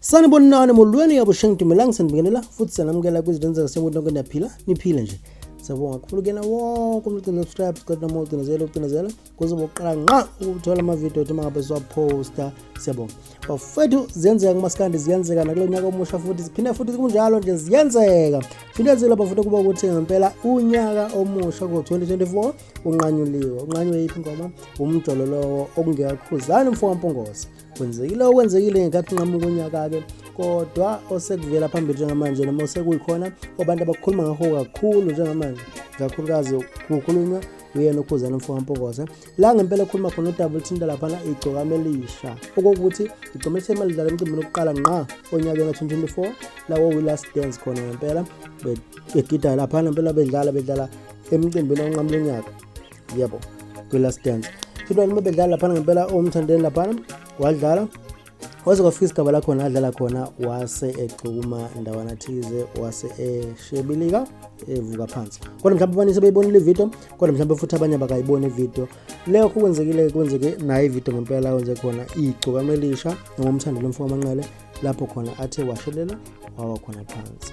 sanibona nani molweni yabo sheng dumelang sanibingelela futhi sanamukela kwizilenza kasenkuthi nonke niyaphila niphile nje siyabonga kakhulu kuyena wonke umuntu ogcina subscribe sikhathi noma ucinezela ucinezela kuze bokuqala nqa ukuthola amavidiyo athi mangabe siwaphosta siyabonga bafethu ziyenzeka kumasikandi ziyenzeka nakulo nyaka omusha futhi ziphinde futhi kunjalo nje ziyenzeka finezile bafuna ukuba ukuthi ngempela unyaka omusha ko-2024 unqanyuliwe unqanywe yiphi ingoma umjolo lowo okungekakhuzani mfo wampungose kwenzekile okwenzekile ngenkathi nqamuka unyaka-ke kodwa osekuvela phambili njengamanje noma osekuyikhona obantu abakhuluma ngakho kakhulu njengamanje kakhulukazi kukhulunywa uyena ukhuzana mfo kampokose la ngempela ekhuluma khona udaba olithinta laphana igcokama elisha okokuthi igcoma elithema lidlala emcimbini wokuqala nqa onyakeni ka-2024 lawo wi-last dance khona ngempela begida laphana ngempela bedlala bedlala emcimbini onqamula unyaka yebo kwi-last dance philwani uma bedlala laphana ngempela omthandeni laphana wadlala waze kwafika isigaba lakhona adlala khona wase egxuma ndawana thize wase eshebilika evuka phansi kodwa mhlawumbe abanye sebeyibonile ividiyo kodwa mhlawumbe futhi abanye abakayiboni ividiyo leyo kho kwenzekile kwenzeke nayo ividiyo ngempela yenze khona igcokama elisha ngomthandelo mfo wamanqele lapho khona athe washelela wawa khona phansi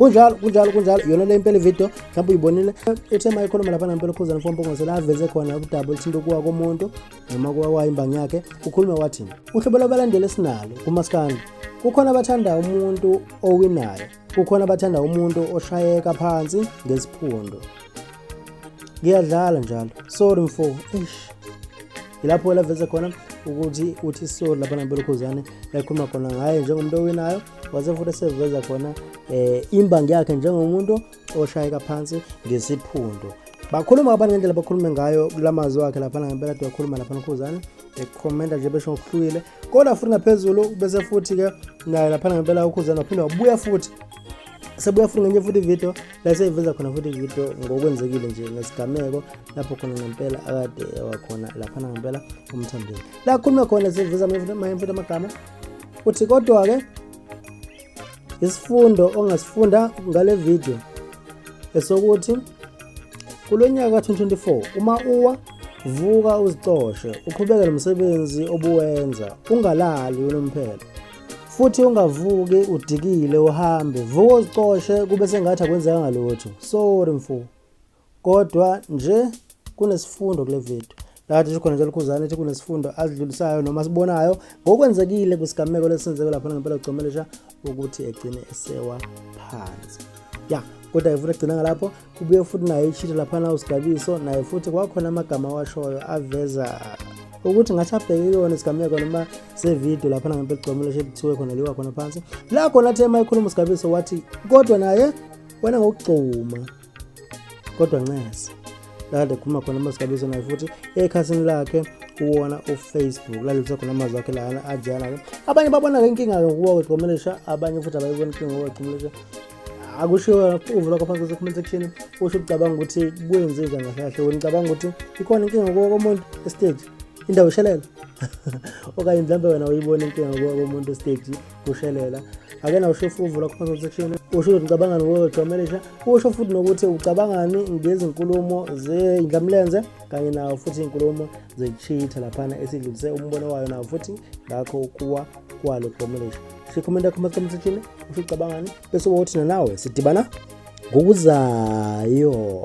kunjalo kunjalo kunjalo yona le impela ividiyo mhlawumbe uyibonile ethe ma ikhuluma lapha nampela ukhuzana fompongozela aveze khona ukudaba oluthinta ukuwa komuntu noma kuwawayo imbangi yakhe ukhulume wathi uhlobo lwabalandeli esinalo kumaskandi kukhona abathanda umuntu owinayo kukhona abathanda umuntu oshayeka phansi ngesiphundu ngiyadlala njalo sorry mfo eish yilapho laveze khona ukuthi uthi sorry lapha nampela ukhuzane ekhuluma khona ngaye njengomuntu owinayo wase futhi seveza khona eh imbangi yakhe njengomuntu oshayeka phansi ngesiphundu bakhuluma abantu ngendlela bakhulume ngayo kula mazwi wakhe laphana ngempela tuyakhuluma laphana ukhuzane ekhomenta nje besho ngokuhlukile kodwa futhi ngaphezulu bese futhi-ke naye laphana ngempela ukhuzane waphinde wabuya futhi sebuya futhi ngenye futhi ividiyo la seyiveza khona futhi ividiyo ngokwenzekile nje ngesigameko lapho khona ngempela akade wakhona laphana ngempela umthandeni la khulume khona seyiveza manye futhi amagama Uthi kodwa ke isifundo ongasifunda ngale video esokuthi kulonyaka ka-2024 uma uwa vuka uzicoshe uqhubeke nomsebenzi obuwenza ungalali unomphela futhi ungavuki udikile uhambe vuka uzicoshe kube sengathi akwenzekanga lutho sorry mfo kodwa nje kunesifundo kule video lathi sikhona njalo khuzane ethi kunesifundo asidlulisayo noma sibonayo ngokwenzekile kwisigameko lesenzeke lapha ngempela ucomelesha ukuthi egcine esewa phansi ya kodwa yefuna egcina ngalapho kubuye futhi naye ishitha laphana usigabiso naye futhi kwakhona amagama awashoyo aveza ukuthi ngathi abheke kuyona isigameko noma sevidiyo laphana ngempela ucomelesha ekuthiwe khona liwa khona phansi la khona athe uma ekhuluma usigabiso wathi kodwa naye wena ngokugcuma kodwa ncese lade khuma khona masigabizwe naye futhi ekhasini lakhe kuwona ufacebook la lutho khona amazwi akhe lana ajana-ke abanye babona-ke inkinga-ke ngokuwa kwecomelesha abanye futhi abayibona inkinga ngokuwa kwecomelesha akushiwo uvu lakho phansi kuse-comment section usho ukucabanga ukuthi kwenze njani kahle kahle wena ucabanga ukuthi ikhona inkinga ngokuwa komuntu estage indawo ishelela okanye mhlawumbe wena uyibona inkinga ngokuwa komuntu estage kushelela ake na usho futhi uvula comment section usho ukuthi ucabangani ngokuthi wamelisha usho futhi nokuthi ucabangani ngezinkulumo zeyindlamlenze kanye nawo futhi izinkulumo zecheater laphana esidlulise umbono wayo nawo futhi ngakho ukuwa kwalo kuwamelisha shikhomenta comment section usho ucabangani bese uba uthina nawe sidibana ngokuzayo